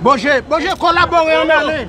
Bonje bonje kolabore an ale.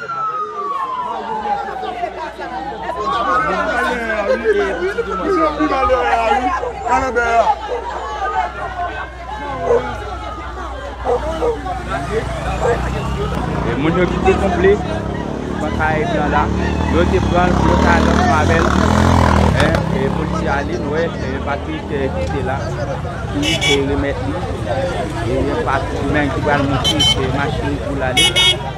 Moun yo ki te konple Nan kay blan la Yo te pranl pou yo ka al ansanm avèl E polisye a ale nou wè E Patrick ki te la Ki te remèt li E Patrick menm ki pral monte Machin li pou l ale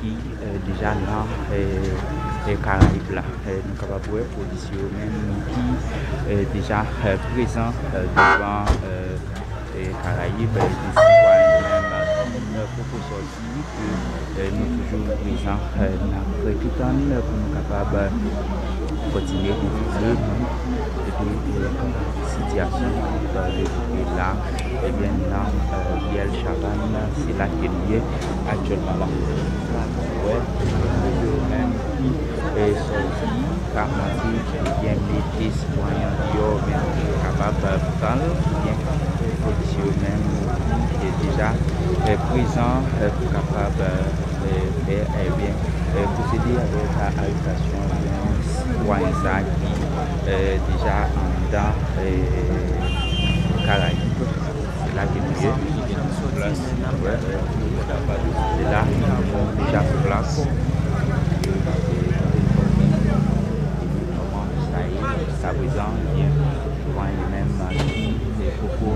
ki deja nan karayib la nou kapab wè polisye yo menm ki deja prezan devan karayib de sitwayen yo menm ki poko sòti ke nou toujou prezan nan prè ki tann pou nou kapab kontinye enfòme nou de kòman sityasyon ap devlope la ebyen nan riyèl chavàn se la ke nou ye. aktyèlman la nou wè se yo menm ki fè sòti pa manti oubyen mete sitwayen an deyò oubyen kapab pranl oubyen polis yo menm ki deja prezan pou kapab fè oubyen pwosede avèk arestasyon sitwayen sa ki deja anndan karayib. Se la gen lye plas wè se la deja sou plas yo se kote nou sòti epi manman Moussa ye jiska prezan ebyen vanyan yo menm ki te poko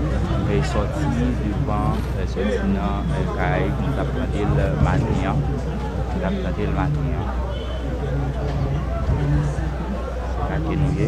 sòti devan sòti nan kay nou tap tande l maten an nou tap tande l maten an se la ke nou ye.